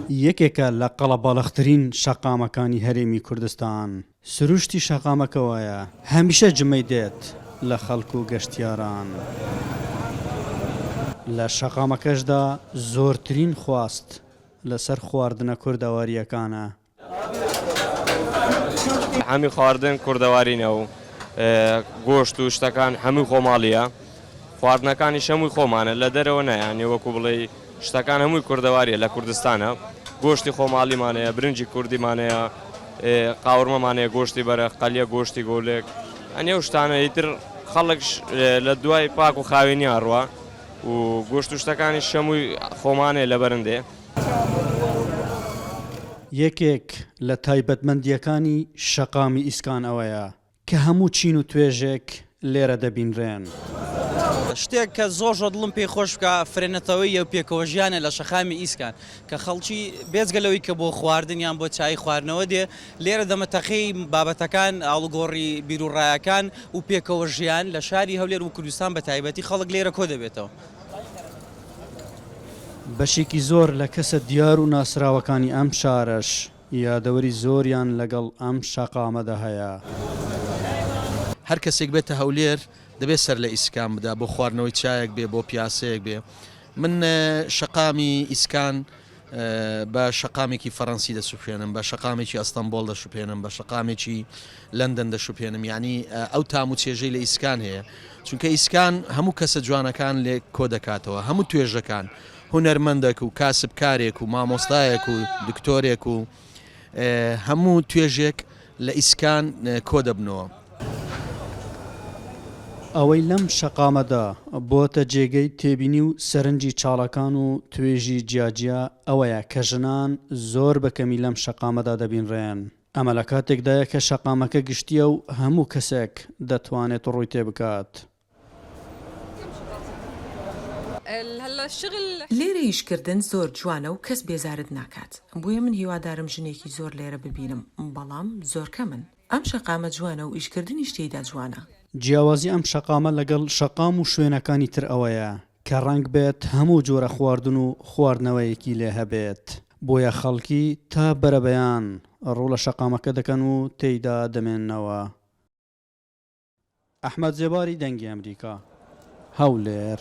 یەکێکە لە قەڵەباڵغترین شەقامەکانی هەرێمی کوردستان، سروشتی شەقامەکە وایە هەمیشە جمەی دێت لە خەڵک و گەشتیاران، لە شەقامەکەشدا زۆرترین خواست لەسەر خواردنە کوردەوارییەکانە، هەمی خواردن کوردەوارینە و گۆشت و شتەکان هەمووی خۆماڵیە خواردنەکانی شەمووی خۆمانە لە دەرەوە نایانێ وەکو بڵێ شتەکان هەمووی کوردەواریە لە کوردستانە گۆشتی خۆماڵیمانەیە برنجی کوردیمانەیە قاورمەمانەیە گۆشتی بەرە قەلیە گۆشتی گۆلێک ئەنێ و شتانە ئیتر خەڵک لە دوای پاک و خاوێنیان ڕوە و گۆشت و شتەکانی شەمووی خۆمانێ لە بەرندێ یەکێک لە تایبەتمەندییەکانی شەقامی ئیسکان ئەوەیە کە هەموو چین و توێژێک لێرە دەبینرێن. شتێک کە زۆر زۆر دڵم پێی خۆش بکا فرەنەتەوەیی و پێکەوەژیانە لە شەقامی ئیسکان کە خەڵکی بێجگە لەوەی کە بۆ خواردن یان بۆ چایی خواردنەوە دێ لێرە دەمە تەقێی بابەتەکان ئاڵوگۆڕی بیروڕایەکان و پێکەوەژیان لە شاری هەولێر و کوردستان بە تایبەتی خەڵک لێرە کۆدەبێتەوە. بەشێکی زۆر لە کەسە دیار و ناسراوەکانی ئەم شارەش یادەوەری زۆریان لەگەڵ ئەم شەقامەدا هەیە. هەر کەسێک بێتە هەولێر دەبێت سەر لە ئیسکان بدا بۆ خواردنەوەی چایەک بێ بۆ پیاسەیەک بێ من شەقامی ئیسکان. بە شەقامێکی فەرەنسی دەسوپێنم بە شەقامێکی ئەستەمبۆڵ دەشوپێنم بە شەقامێکی لەندەن دەشوپێنم یعنی ئەو تام و چێژەی لە ئیسکان هەیە چونکە ئیسکان هەموو کەسە جوانەکان لێ کۆ دەکاتەوە هەموو توێژەکان هونەرمەندەک و کاسبکارێک و مامۆستایەک و دکتۆرێک و هەموو توێژێک لە ئیسکان کۆ دەبنەوە. ئەوەی لەم شەقامەدا بۆتە جێگەی تێبینی و سەرنجی چاڵەکان و توێژی جیاجیا ئەوەیە کە ژنان زۆر بە کەمی لەم شەقامەدا دەبینرێن. ئەمە لە کاتێکدایە کە شەقامەکە گشتییە و هەموو کەسێک دەتوانێت ڕووی تێ بکات. لێرە ئیش کردن زۆر جوانە و کەس بێزارت ناکات بۆیە من هیوادارم ژنێکی زۆر لێرە ببینم بەڵام زۆر کەمن. ئەم شەقامە جوانە و ئیش کردنیش تێیدا جوانە. جیاوازی ئەم شەقامە لەگەڵ شەقام و شوێنەکانی تر ئەوەیە کە ڕەنگ بێت هەموو جۆرە خواردن و خواردنەوەیەکی لێ هەبێت بۆیە خەڵکی تا بەرەبەیان ڕوو لە شەقامەکە دەکەن و تێیدا دەمێننەوە. ئەحمەد زێباری دەنگی ئەمریکا هەولێر.